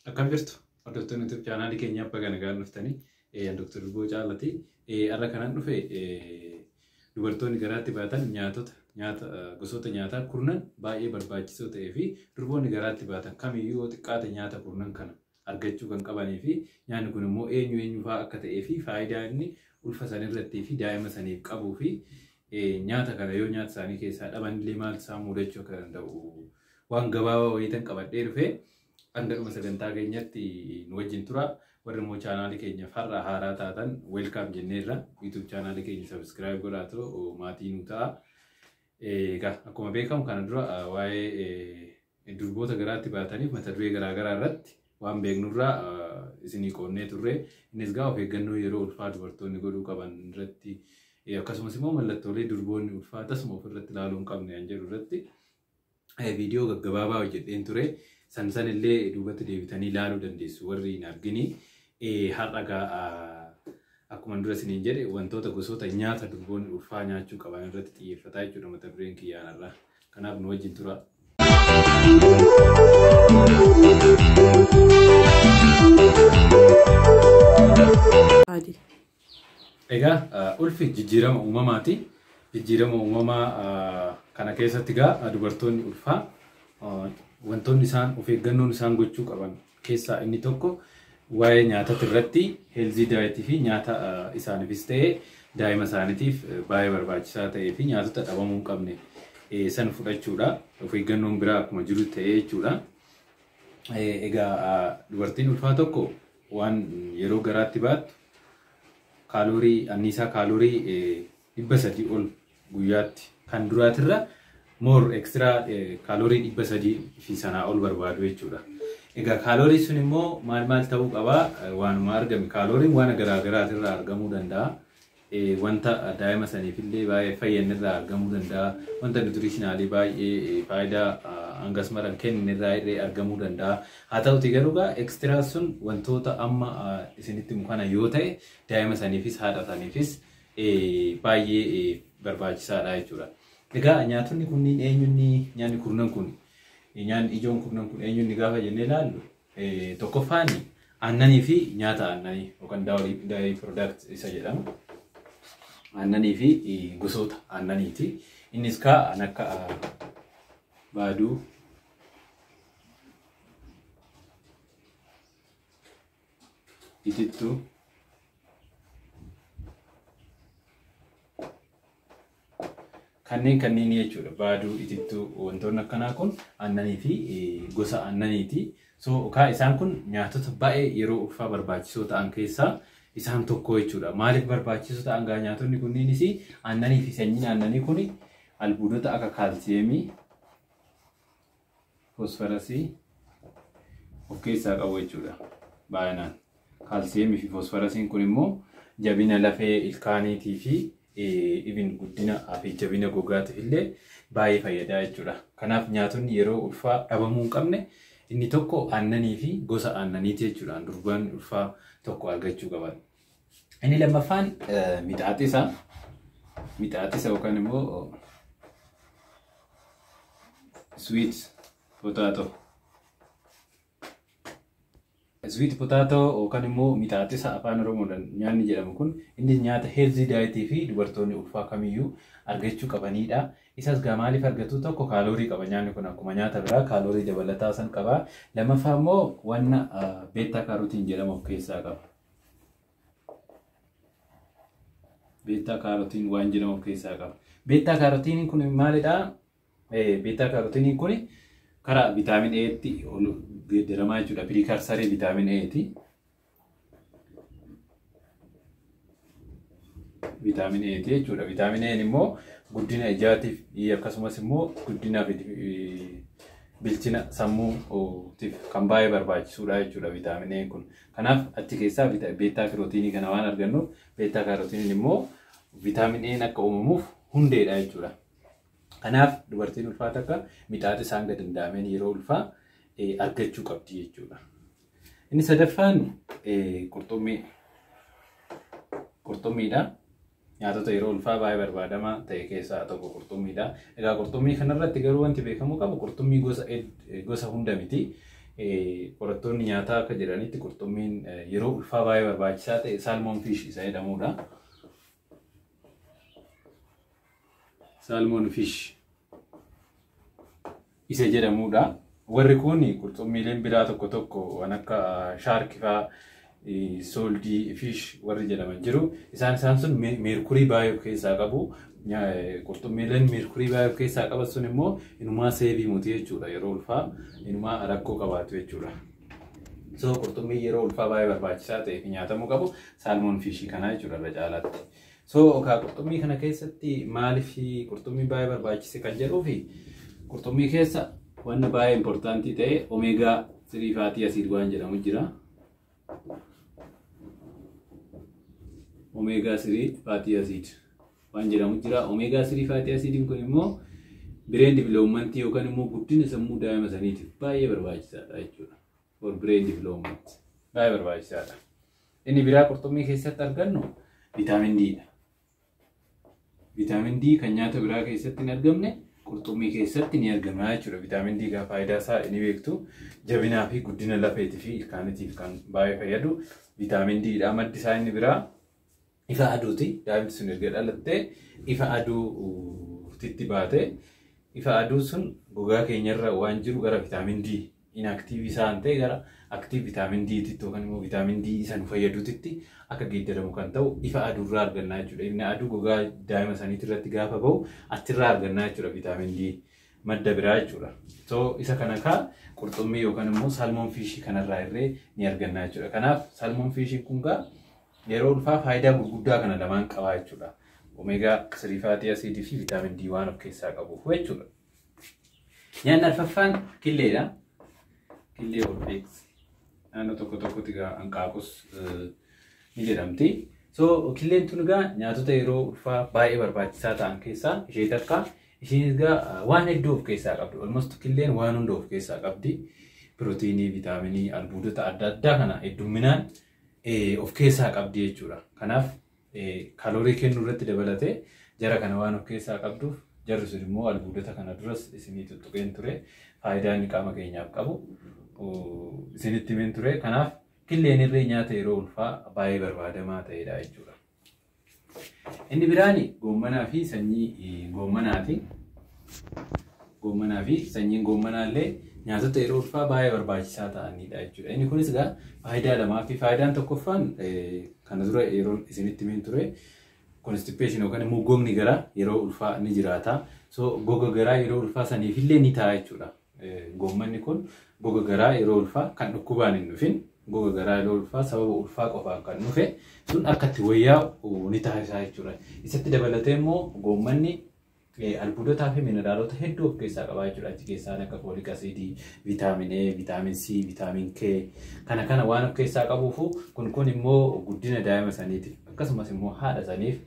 Akkam jirtu? Hordoftoonni YouTube chaanaalii keenya abbaa kana gahaan dhuftanii Dr. Luboo Caalati. Har'a kanan dhufe dubartoonni garaatti baatan nyaatota nyaata gosoota nyaataa kurnan baay'ee barbaachisoo ta'ee fi durboonni garaatti baatan kamiyyuu yoo xiqqaate nyaata kurnan kana argachuu kan qabanii fi nyaanni kun immoo eenyu eenyu fa'aa akka ta'ee fi faayidaa inni ulfa san irrattii fi daa'ima saniif qabuu fi nyaata kana yoo nyaata isaanii keessaa dhaban illee maal isaan mudachuu akka danda'u waan gabaabaa wayiitan qabadhee dhufee hanga dhuma sagantaa keenyatti nu wajjin tura. Warri immoo chaanaalii keenya farra haaraa taatan weelkaam jenneerra. YouTube chaanaalii keenya sabiskiraayib godhaatu maatii nu ta'a. Egaa akkuma beekamu kana dura waa'ee Durboota garaatti baataniif mata duree garaa garaa irratti waan beeknurraa isinii qoonnee turre. Innis gaa of eeggannoo yeroo ulfaa dubartoonni godhuu qaban irratti akkasumas immoo mallattoolee durboonni ulfaa tasuma of irratti ilaaluu hin qabne kan jedhu irratti viidiyoo gaggabaabaa hojjedheen ture. San san illee duubatti deebitanii ilaaluu dandeessu warri hin argini. Har'a gaa akkuma dura isiniin jedhe wantoota gosoota nyaata durboonni ulfaa nyaachuu qaban irratti xiyyeeffataa jechuudha mata dureen kiyyaan irraa. Kanaaf nu wajjin tura. Adi. Egaa ah, ulfi jijjiirama uumamaati. Jijjiirama uumamaa ah, kana keessatti egaa ah, dubartoonni ulfaa ah, wantoonni isaan of eeggannoon isaan gochuu qaban keessaa inni tokko waa'ee nyaatati irratti heelzii daayitii fi nyaata isaanifis ta'e daa'ima isaanitiif baay'ee barbaachisaa ta'ee fi nyaatota dhabamuu hin qabne san fudhachuudha. Of eeggannoon biraa akkuma jiru ta'ee jechuudha. Egaa dubartiin ulfaa tokko waan yeroo garaatti baattu kaaloorii anniisaa kaaloorii 300 ol guyyaatti. Kan duraatirra more extra calorie 300 fi sanaa ol barbaadu jechuudha. Egaa calorie sun immoo maal maal ta'uu qaba? Waanuma argame calorie waan garaa garaatirraa argamuu danda'a. Wanta daa'ima saniifillee baay'ee fayyannirraa argamuu danda'a. Wanta nutritionaalii baay'ee faayidaa hangas mara hin kenninirraa illee argamuu danda'a. Haa ta'uti garuu egaa extra sun wantoota amma isinitti himu kana yoo ta'e daa'ima saniifis haadha saniifis baay'ee barbaachisaadha jechuudha. Egaa nyaatonni kunniin eenyunni nyaanni kurnan kun nyaanni ijoon kurnan kun eenyunni gaafa jennee ilaallu tokkoffaan aannanii fi nyaata aannanii yookaan daayirii piroodaakt isa jedhamu aannanii fi gosoota aannaniiti. Innis kaa'an akka baaduu itittuu kanneen kanneen jechuudha baaduu itittuu wantoonni akkanaa kun aannanii fi gosa aannaniiti so kaa isaan kun nyaatota baay'ee yeroo ulfaa barbaachisoo ta'an keessaa isaan tokko jechuudha maaliif barbaachisoo ta'an gaa nyaatonni kunniinis aannanii fi sanyiin aannanii kun albuudota akka kaalsiyeemii foosfarasii of keessaa qabu jechuudha baay'inaan. Kaalsiyeemii fi foosfarasiin kun immoo jabina lafee ilkaaniitii fi ibin guddina fi jabina gogaatiif illee baay'ee fayyadaa jechuudha. Kanaaf nyaatonni yeroo ulfaa dhabamuu hin qabne inni tokko aannanii fi gosa aannaniiti jechuudha. Durbaan ulfaa tokko argachuu qaban. Inni lammaffaan mixaaxisa. Mixaaxisa yookaan immoo sweet potato. Sweet potato yookaan immoo mixaaxisa afaan Oromoodhaan nyaanni jedhamu kun innis nyaata heelzii daayitii fi dubartoonni ulfaa kamiyyuu argachuu qabanidha. Isas gaa maaliif argatu tokko kaaloorii qaba nyaanni kun akkuma nyaata biraa kaaloorii dabalataa san qaba. Lammaffaa immoo wanna beettaa kaarotiin jedhamu of keessaa qaba. beetaa kaarotiin waan jedhamu of keessaa qaba. Beetaa kaarotiiniin kun maalidha? Beetaa kaarotiiniin kun karaa vitaamin Eetti ol geeddaramaa jechuudha. Piriikarsarii vitaamin Eeti. Vitaamin Eeti jechuudha. Vitaamin Een immoo guddina ijaatiif akkasumas immoo guddinaaf bilchina sammuutiif kan baay'ee barbaachisuudha jechuudha vitaamin Een kun. Kanaaf achi keessaa beettaa kirootiinii kana waan argannuuf beettaa kaarotiiniin immoo vitaamin E'n akka uumamuuf hundeedha jechuudha. Kanaaf dubartiin ulfaa takka mixaaxisa hanga danda'ameen yeroo ulfaa argachuu qabdi jechuudha. Inni sadaffaan qurxummii qurxummiidha. Nyaatota yeroo ulfaa baay'ee barbaadamaa ta'e keessaa tokko qurxummiidha. Egaa qurxummii kanarratti garuu wanti beekamuu qabu qurxummii gosa gosa hunda miti. Qorattoonni nyaataa akka jedhanitti qurxummiin yeroo ulfaa baay'ee barbaachisaa ta'e saalmoon fiish isa jedhamudha. Saalmoon fiish isa jedhamuudha. Warri kun qurxummiileen biraa tokko tokko waan akka shaarki faa sooldii fiish warri jedhaman jiru. Isaan isaan sun meerkurii baay'ee of keessaa qabu. Qurxummiileen meerkurii baay'ee of keessaa qaban sun immoo inumaa seebii muti jechuudha yeroo ulfaa inumaa rakkoo qabaatu jechuudha. So qurxummii yeroo ulfaa baay'ee barbaachisaa ta'e fi nyaatamuu qabu saalmoon fiishii kanaa jechuudha irra caalaatti. So okaa qurxummii kana keessatti maaliif qurxummii baay'ee barbaachise kan jedhuu fi qurxummii keessa wanna baay'ee impoortaantii ta'e omeegaa sirii faatii asiid waan jedhamu jira. Omeegaa sirii faatii asiid waan jedhamu jira. Omeegaa sirii faatii asiidiin kun immoo bireen diviloomantii yookaan immoo guddina sammuu daa'ima saniitiif baay'ee barbaachisaadha jechuudha. for brain development baay'ee barbaachisaadha. Inni biraa qurxummii keessatti argannu vitaamin D dha. Vitaamin D kan nyaata biraa keessatti hin argamne qurxummii keessatti ni argama jechuudha. Vitaamin D egaa faayidaa isaa ni beektu. Jabinaa fi guddina lafeetii fi ilkaanitiif kan baay'ee fayyadu vitaamin D dha. Maddi isaa inni biraa Ifa aduuti. Daa'imti sun erga dhalattee ifa aduutitti baate. Ifa aduu sun gogaa keenyarra waan jiru gara vitaamin D inaktiiv isaan ta'e gara aktiiv vitaamin D titti yookaan immoo vitaamin D isa nu fayyaduutitti akka geeddaramu kan ta'u ifa aduurraa argannaa jechuudha. Ifni aduu gogaa daa'ima saniitii irratti gaafa bahu achirraa argannaa jechuudha vitaamin D madda biraa jechuudha. So isa kana kaa qurxummii yookaan immoo salmon fiishii kanarraa irree ni argannaa jechuudha. Kanaaf salmon fiishiin kun kaa Yeroo ulfaa faayidaa gurguddaa kana lamaan qabaa jechuudha. Omega 3 fatty acid fi vitamin D waan of keessaa qabuuf jechuudha. Nyaanni arfaffaan killeedha. Killee olfeex naannoo tokko tokkotti egaa hanqaaqus ni jedhamti. So killeen tun egaa nyaatota yeroo ulfaa baay'ee barbaachisaa ta'an keessaa ishee takka. Isheen egaa waan hedduu of keessaa qabdi. Olmost killeen waan hunda of keessaa qabdi. Pirootiinii, vitaaminii, albuudota adda addaa kana heddumminaan of keessaa qabdi jechuudha. Kanaaf kaloorii kennuu irratti dabalatee jara kana waan of keessaa qabduuf jarri sun immoo albuudota kana duras isinii tuttuqeen ture faayidaa inni qaama keenyaaf qabu isinitti himeen ture. Kanaaf killeen irree nyaata yeroo ulfaa baay'ee barbaadamaa ta'edha jechuudha. Inni biraan goommanaa fi sanyii goommanaati. Goommanaa fi sanyiin goommanaa illee nyaatota yeroo ulfaa baay'ee barbaachisaa ta'anidha jechuudha. Inni kunis egaa faayidaa lamaa fi faayidaan tokkoffaan kana dura yeroo isinitti himin ture konstipeeshin yookaan immoo gogni garaa yeroo ulfaa ni jiraata. So goga garaa yeroo ulfaa saniif illee ni ta'a jechuudha. Goommanni kun goga garaa yeroo ulfaa kan dhukkubaan hin dhufin goga garaa yeroo ulfaa sababa ulfaa qofaan kan dhufe sun akka itti wayyaa'u ni taasisaa jechuudha. Isatti dabalatee immoo goommanni albuudotaa fi mineraalota hedduu of keessaa qabaa jechuudha. Achi keessaan akka foolik asiidii, viitaamin A, viitaamin C, viitaamin K kana kana waan of keessaa qabuufu kun kun immoo guddina daa'ima saniitiif akkasumas immoo haadha saniif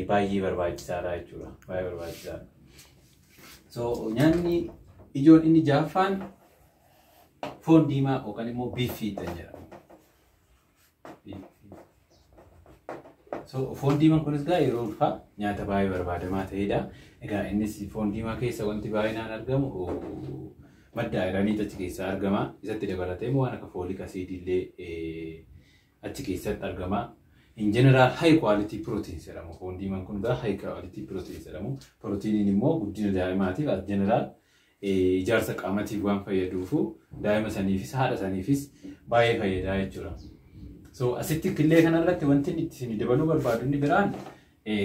baay'ee barbaachisaadha jechuudha. Baay'ee barbaachisaadha. So nyaanni ijoon inni jaaffaan foon diimaa yookaan immoo biiffii kan jedhamu. So foon diimaan kunis egaa yeroo ulfaa nyaata baay'ee barbaadamaa ta'edha. Egaa innis foon diimaa keessa wanti baay'inaan argamu madda ayiranii achi keessaa argama. Isatti dabalatee immoo waan akka foolik asiidii illee achi keessatti argama. In general high quality proteins jedhamu. Foon diimaan kun egaa high quality proteins jedhamu. Pirootiiniin immoo guddina daa'imaatiif as general ijaarsa qaamatiif waan fayyaduufu daa'ima saniifis haadha saniifis baay'ee fayyadaa jechuudha. So asitti killee kanarratti wanti inni itti isin dabaluu barbaadu inni biraan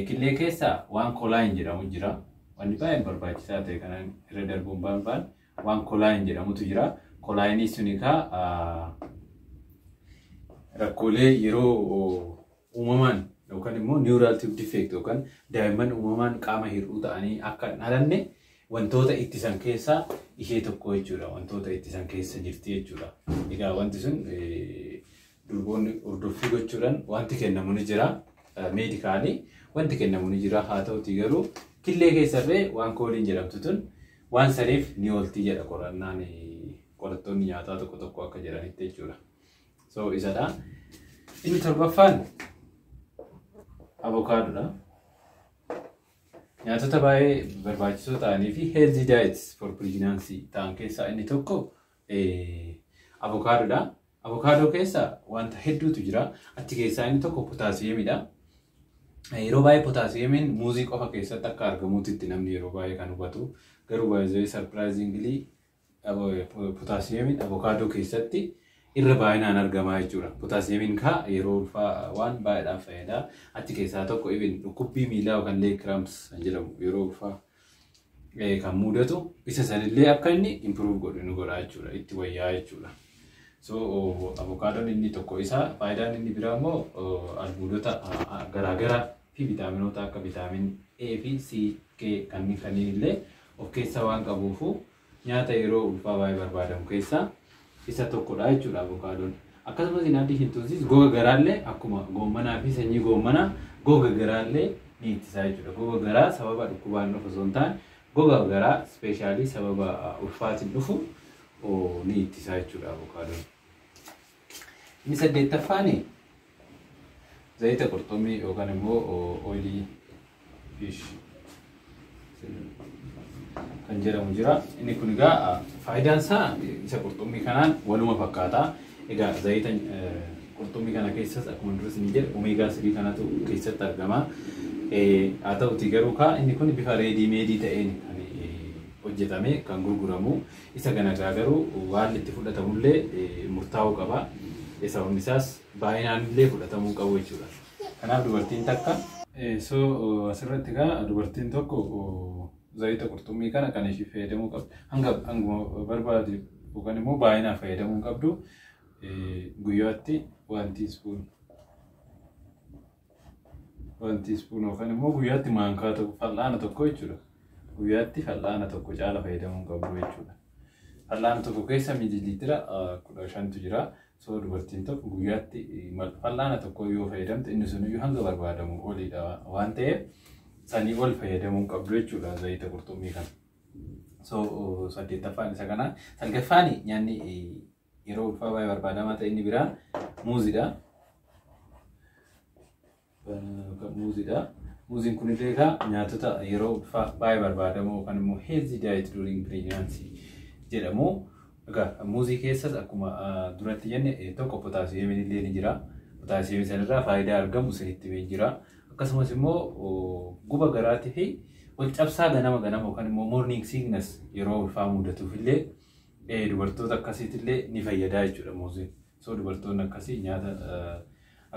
killee keessa waan kolaayin jedhamu jira. Wanni baay'ee barbaachisaa ta'e kana irra darbuun barbaadu Waan kolaayin jedhamutu jira. Kolaayinii suni kaa rakkoolee yeroo uumamaan yookaan immoo neural tube defect yookaan daa'imman uumamaan qaama hir'uu ta'anii akka hin dhalanne wantoota ittisan keessaa ishee tokko jechuudha. Wantoota ittisan keessa jirti jechuudha. Egaa wanti sun durboonni hordoffii gochuudhaan wanti kennamu ni jira. Meedikaalii wanti kennamu ni jira. Haa ta'utii garuu killee keessarree waan kooliin jedhamtu tun Waan saniif ni oolti jedha qorannaan qorattoonni nyaataa tokko tokko akka jedhanitti jechuudha. So isadha. Inni torbaffaan avokaadoodha. Nyaatota baay'ee barbaachisoo ta'anii fi healthy diets for pregnancy ta'an keessaa inni tokko Avokaadoodha. Avokaadoo keessa wanta hedduutu jira. Achi keessaa inni tokko potaasiyeemidha. Yeroo baay'ee potaasiyeemiin muuzii qofa keessatti akka argamutti itti namni yeroo baay'ee kan hubatu. Garuu baay'ee sarpiraayiziingilii potaasiyeemiin avokaadoo keessatti irra baay'inaan argamaa jechuudha. Potaasiyeemiin kaa yeroo ulfaa waan baay'eedhaaf fayyada. Achi keessaa tokko ibin dhukkubbii miilaa yookaan leeg kiraamps jedhamu yeroo ulfaa eh, kan mudatu isa sanillee akka inni improve godhu nu godha jechuudha itti wayyaa jechuudha. So oh, avokaadoon inni tokko isa faayidaan inni biraa immoo oh, albuudota ah, ah, garaagaraa fi vitaaminoota akka vitaamin A fi C, K kanneen kanneen illee of keessaa waan qabuufu Nyaata yeroo ulfaa baay'ee barbaadamu keessaa isa tokkodha jechuudha avokaadoon. Akkasumas in addition to this goga garaallee akkuma goommanaa fi sanyii goommanaa goga garaallee ni ittisa jechuudha. Goga garaa sababa dhukkubaan dhufu osoo hin taane goga garaa ispeeshaalii sababa ulfaatiin dhufu ni ittisa jechuudha avokaadoon. Inni saddeettaffaan zayita qurxummii yookaan immoo oilii fiish kan jedhamu jira. Inni kun egaa faayidaan isaa isa qurxummii kanaan waluma fakkaata. Egaa zayita qurxummii kana keessas akkuma duras ni jedhe omeegaa sadii kanatu keessatti argama. Haa ta'uti garuu kaa inni kun bifa reedii meedii ta'een kan hojjetame kan gurguramu. Isa ganagaa garuu haalli itti fudhatamullee murtaa'uu qaba. Sababni isaas baay'inaanillee fudhatamuu hin qabu jechuudha. Kanaaf dubartiin takka. So asirratti egaa dubartiin tokko zayita qurxummii kana kan ishii fayyadamuu qabdu hanga hanguma barbaadu yookaan immoo baay'inaan fayyadamuu hin qabdu guyyaatti wanti ispoon Waan tiispuun yookaan immoo guyyaatti maankaa tokko fal'aana tokko jechuudha. Guyyaatti fal'aana tokko caala fayyadamuun qabu jechuudha. Fal'aana tokko keessa miililiitira kudha shantu jira. Soo dubartiin tokko guyyaatti fal'aana tokko yoo fayyadamte inni sun iyyuu hanga barbaadamu oliidha waan ta'eef sanii ol fayyadamuun qabdu jechuudha zayita qurxummii kana. So saddeettaffaan isa kana. Salgaffaan nyaanni Yeroo ulfaa baay'ee barbaadamaa ta'e inni biraa muuzidha. Muuzidha. Muuziin kun illee egaa nyaatota yeroo ulfaa baay'ee barbaadamoo yookaan immoo healthy diet during pregnancy jedhamu. Egaa muuzii keessas akkuma duratti jenne tokko potaasiyeemiin illee ni jira. Potaasiyeemii sanarraa faayidaa argamu isinitti himee jira. Akkasumas immoo guba garaatii fi wal cabsaa ganama ganama yookaan immoo morning sickness yeroo ulfaa mudatuuf illee Ee dubartoota akkasiitillee ni fayyadaa jechuudha muuziin. So dubartoonni akkasii nyaata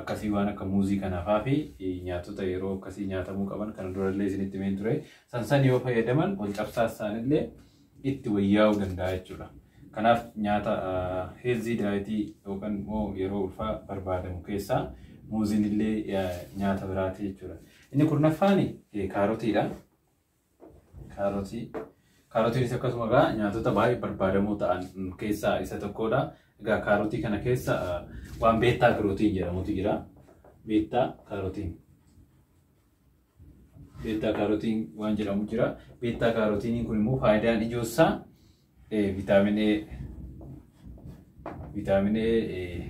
akkasii waan akka muuzii kanaafaa fi nyaatota yeroo akkasii nyaatamuu qaban kana durallee isinitti himeen ture. San san yoo fayyadaman wal cabsaa isaanillee itti wayyaa'uu danda'a jechuudha. Kanaaf nyaata heelzii daayitii yookaan immoo yeroo ulfaa barbaadamu keessaa muuziin illee nyaata biraati jechuudha. Inni kurnaffaan kaarotiidha. Kaarotii. Kaarotiinis akkasuma egaa nyaatota baay'ee barbaadamoo ta'an keessaa isa tokkodha. Egaa kaarotii kana keessa waan beettaa kirootiin jedhamutu jira. Beettaa kaarotiin. Beettaa kaarotiin waan jedhamu jira. Beettaa kaarotiiniin kun immoo faayidaan ijoo isaa Eh, vitamin A vitamin A eh,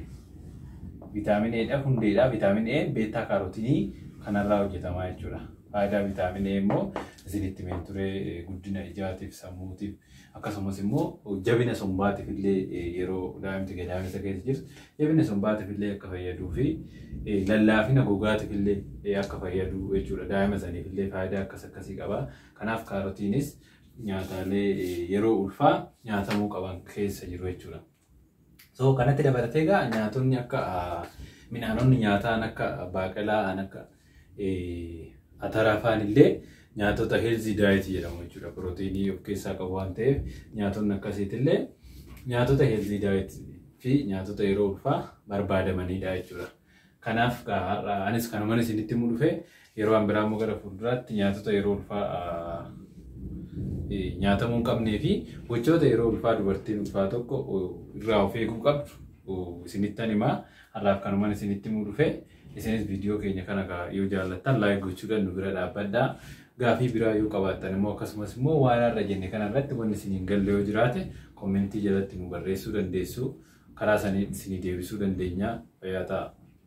vitamin A dha hundeedha vitamin A beetaa kaarotinii kanarraa hojjetamaa jechuudha faayidaa vitamin A immoo isinitti mee ture eh, guddina ijaatiif sammuutiif akkasumas immoo jabina sombaatiif illee eh, yeroo daa'imti gadaamessa keessa jirtu jabina sombaatiif illee akka fayyaduu fi eh, lallaafina gogaatiif illee eh, akka fayyadu jechuudha daa'ima saniif illee faayidaa akkas akkasii qaba kanaaf kaarotiinis nyaataalee yeroo ulfaa nyaatamuu qaban keessa jiru jechuudha. So kanatti dabalatee egaa nyaatonni akka midhaanonni nyaataan akka baaqelaa, an akka ataraa faan illee nyaatota heelzii daayitii jedhamu jechuudha. Pirootiinii of keessaa qabu waan ta'eef nyaatonni akkasiitti illee nyaatota heelzii daayitii fi nyaatota yeroo ulfaa barbaadamanidha jechuudha. Kanaaf gaa har'a anis kanuman isinitti himuu dhufe yeroo an biraa immoo gara fuulduraatti nyaatota yeroo ulfaa ah, eh, nyaatamuu hin qabnee fi gochoota yeroo ulfaa dubartiin ulfaa tokko oh, irraa of eeguu qabdu oh, isinittan himaa har'aaf kanuman isinitti himuu dhufe isinis viidiyoo keenya kana gaa yoo jaallattan laayik gochuudhaan nu bira dhaabbadhaa gaafii biraa yoo qabaattan immoo akkasumas immoo waan har'a jenne kana irratti wanni isin hin galle yoo jiraate Kommentii jalatti nu barreessuu dandeessu. Karaa saniin isinii deebisuu dandeenya. Fayyaa ta'aa!